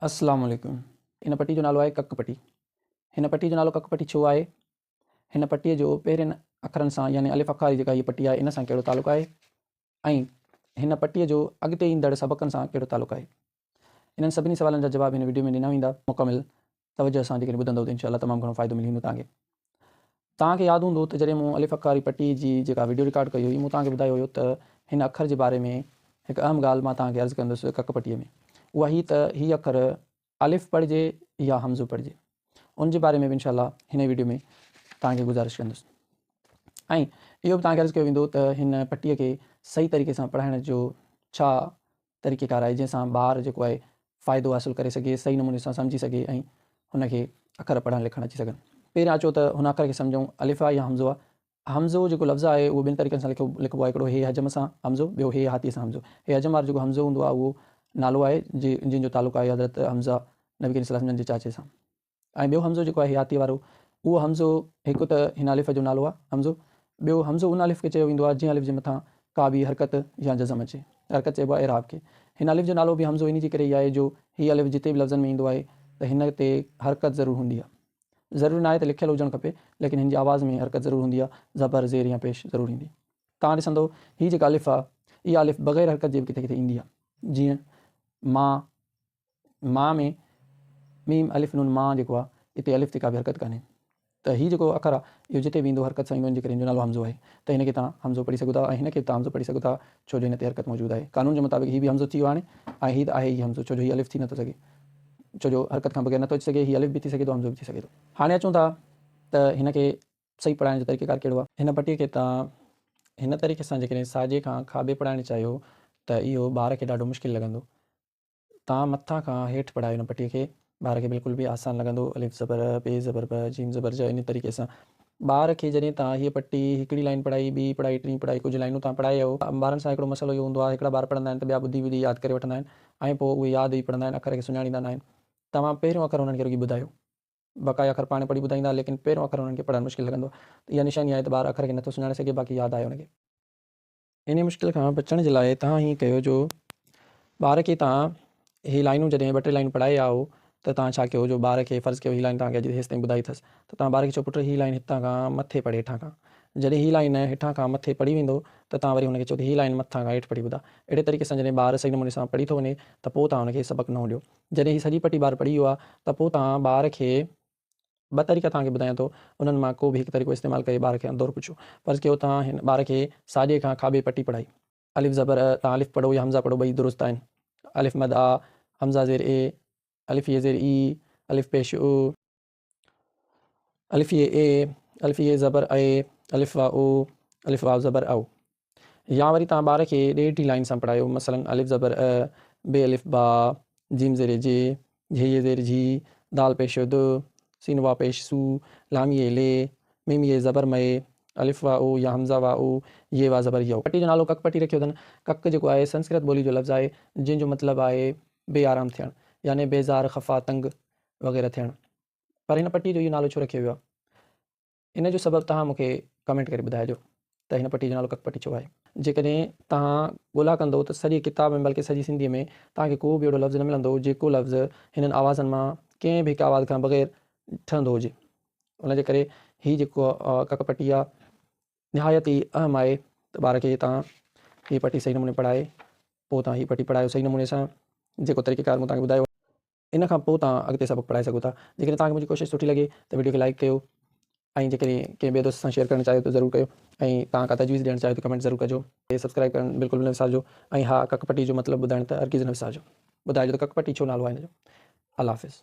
السلام عليڪم ان پٽي جو نالو آهي ڪڪ پٽي هن پٽي جو نالو ڪڪ پٽي ڇو آهي هن پٽي جو پهرين اکرن سان يعني الف اکاري جيڪا هي پٽي آهي ان سان ڪهڙو تعلق آهي ۽ هن پٽي جو اڳتي ايندڙ سبقن سان ڪهڙو تعلق آهي انهن سڀني سوالن جا جواب هن وڊيو ۾ ڏنا ويندا مڪمل توجه سان جيڪڏهن ٻڌندؤ ته انشاء الله تمام گهڻو فائدو ملي ويندو توهان کي. توهان کي ياد هوندو ته جڏهن مون الف اکاري پٽي جي جيڪا وڊيو رڪارڊ ڪئي هئي مون توهان کي ٻڌايو هيو ته هن اکر جي باري ۾ هڪ اهم ڳالهه مان توهان کي عرض ڪندس ڪڪ پٽي ۾ اها هي ته هي اکر الف پڙهجي يا همزو پڙهجي ان جي باري ۾ به انشاء الله هن ئي وڊيو ۾ توهان کي گذارش ڪندس ۽ اهو به توهان کي عرض ڪيو ويندو ته هن پٽي کي صحيح طريقي سان پڙهائڻ جو ڇا طريقيڪار آهي جنهن سان ٻار جيڪو آهي فائدو حاصل ڪري سگهي صحيح نموني سان سمجهي سگهي ۽ هن کي اکر پڙهڻ لکڻ اچي سگهن. پهريان اچو ته هن اکر کي سمجهون الف آ يا همزو آ. همزو جيڪو لفظ آهي اهو ٻن طريقن سان لکبو آهي هڪڙو هي حجم سان همزو ٻيو هي هاتيء سان همزو. هي حجم وارو جيڪو همزو هوندو آهي اهو نالو آهي جنهن جو تعلق آهي حضرت حمزه نبي ڪريم صلي الله عليه وسلم جي چاچي سان. ۽ ٻيو همزو جيڪو آهي حياتيء وارو، اهو همزو هڪ ته هن الف جو نالو آهي، همزو، ٻيو همزو ان الف کي چيو ويندو آهي، جنهن الف جي مٿان ڪا به حرڪت يا جزم اچي، حرڪت چئبو آهي اعراب کي. هن الف جو نالو به همزو انهيء جي ڪري ئي آهي جو هي الف جتي به لفظن ۾ ايندو آهي ته هن تي حرڪت ضرور هوندي آهي. ضروري ناهي ته لکيل هجڻ کپي، ليڪن هن جي آواز ۾ حرڪت ضرور هوندي آهي، زبر، زير يا پيش ضرور ايندي. توهان ڏسندؤ، هي جيڪا الف آهي، اها الف بغير حرڪت جي به ڪٿي ڪٿي ايندي آهي. جيئن، ما، ماء ۾ ميم الف نون ماء جيڪو آ اتي الف تي ڪا به حرڪت ڪانهي ته هي جيڪو آخر آ اهو جتي به ايندو حرڪت سان ايندو ان جي ڪري ان جو نالو حمزو آهي ته هن کي توهان حمزو پڙهي سگهو ٿا ۽ هن کي به توهان حمزو پڙهي سگهو ٿا ڇو جو هن تي حرڪت موجود آهي قانون جي مطابق هي به حمزو ٿي ويو هاڻي ۽ هي ته آهي ئي حمزو ڇو جو هي الف ٿي نٿو سگهي ڇو جو حرڪت کان بغير نٿو اچي سگهي هي الف به ٿي سگهي ٿو حمزو به ٿي سگهي ٿو. هاڻي اچون ٿا ته هن کي صحيح پڙهائڻ جو طريقيڪار ڪهڙو آ. هن پٽي کي توهان هن طريقي سان جيڪڏهن ساڄي کان کاٻي پڙهائڻ چاهيو ته اهو ٻار کي ڏاڍو مشڪل لڳندو تان مٿان کان هيٺ پڙهايو هن پٽي کي. ٻار کي بلڪل به آسان لڳندو. الف زبر ا، ب زبر ب، جيم زبر ج انهي طريقي سان ٻار کي جڏهن تان هيء پٽي هڪڙي لائين پڙهائي، ٻي پڙهائي، ٽين پڙهائي، ڪجهه لائينون تان پڙهايو. ٻارن سان هڪڙو مسئلو اهو هوندو آهي هڪڙا ٻار پڙهندا آهن ته ٻيا ٻڌي ٻڌي ياد ڪري وٺندا آهن ۽ پوء اهي ياد ئي پڙهندا آهن اکر کي سڃاڻيندا ناهن. توهان پهريون اکر هنن کي رڳي ٻڌايو. بقايا اکر پاڻ پڙهي ٻڌائيندا ليڪن پهريون اکر هنن کي پڙهڻ مشڪل لڳندو آهي ته اها نشاني آهي ته ٻار اکر کي نٿو سڃاڻي سگهي باقي ياد آهي هن کي. انهيء مشڪل کان بچڻ جي لاء توهان ائين ڪيو جو ٻار کي توهان هي لائينون جڏهن ٻه ٽي لائينون پڙهائي آيا آهو ته توهان ڇا ڪيو جو ٻار کي فرض ڪيو هي لائين توهان کي اڄ هيستائين ٻڌائي اٿس ته توهان ٻار کي چئو پٽ هي لائين هتان کان مٿي پڙهه هيٺان کان جڏهن هي لائين هيٺان کان مٿي پڙهي ويندو ته توهان وري هن کي چئو ته هي لائين مٿان کان هيٺ پڙهي ٻڌاء اهڙي طريقي سان جڏهن ٻار صحيح نموني سان پڙهي ٿو وڃي ته پوء توهان هن کي سبق نئون ڏيو جڏهن هي سڄي پٽي ٻار پڙهي ويو آهي ته پوء توهان ٻار کي ٻه طريقا توهان کي ٻڌايان ٿو، انهن مان ڪو به هڪ طريقو استعمال ڪري ٻار کي هر دور پڇو. فرض ڪيو توهان هن ٻار کي ساڄي کان کاٻي پٽي پڙهائي. الف زبر ا، توهان الف پڙهو يا همزا پڙهو ٻئي درست آهن. الف مد آ، همزا زير اي، الف يي زير اي، الف پيش او، الف يي اي، الف يي زبر اي، الف واء او، الف واو زبر او. يا وري توهان ٻار کي ڏيرٺي لائين سان پڙهايو مثلاً الف زبر ا، ب الف با، ج زير ج، جهه يي زير جهي، د پيش د، س واء پيش سو، ل يي لي، م يي زبر م، الف واء او يا همزه واء او، يي واء زبر يو. پٽي جو نالو ڪڪ پٽي رکيو اٿن. ڪڪ جيڪو آهي سنسڪرت ٻولي جو لفظ آهي جنهن جو مطلب آهي بي آرام ٿيڻ يعني بيزار، خفا، تنگ وغيره ٿيڻ پر هن پٽي جو اهو نالو ڇو رکيو ويو آهي؟ ان جو سبب توهان مون کي ڪمينٽ ڪري ٻڌائجو ته هن پٽي جو نالو ڪڪ پٽي ڇو آهي. جيڪڏهن توهان ڳولا ڪندو ته سڄي ڪتاب ۾ بلڪه سڄي سنڌيء ۾ توهان کي ڪو به اهڙو لفظ نه ملندو جيڪو لفظ هنن آوازن مان ڪنهن به هڪ آواز کان بغير ٺهندو هجي. ان جي ڪري هي جيڪو ڪڪ پٽي آهي نهايت ئي اهم آهي ته ٻار کي توهان هي پٽي صحيح نموني پڙهائي پوء توهان هي پٽي پڙهايو صحيح نموني سان جيڪو طريقيڪار مون توهان کي ٻڌايو آهي. ان کان پوء توهان اڳتي سبق پڙهائي سگهو ٿا. جيڪڏهن توهان کي منهنجي ڪوشش سٺي لڳي ته وڊيو کي لائيڪ ڪيو ۽ جيڪڏهن ڪنهن ٻئي دوست سان شيئر ڪرڻ چاهيو ته ضرور ڪيو ۽ توهان ڪا تجويز ڏيڻ چاهيو ته ڪمينٽ ضرور ڪجو. سبسڪرائيب ڪرڻ بلڪل به نه وسارجو ۽ ها ڪڪ پٽي جو مطلب ٻڌائڻ ته هرگز نه وسارجو. ٻڌائجو ته ڪڪ پٽي ڇو نالو آهي ان جو. الله حافظ.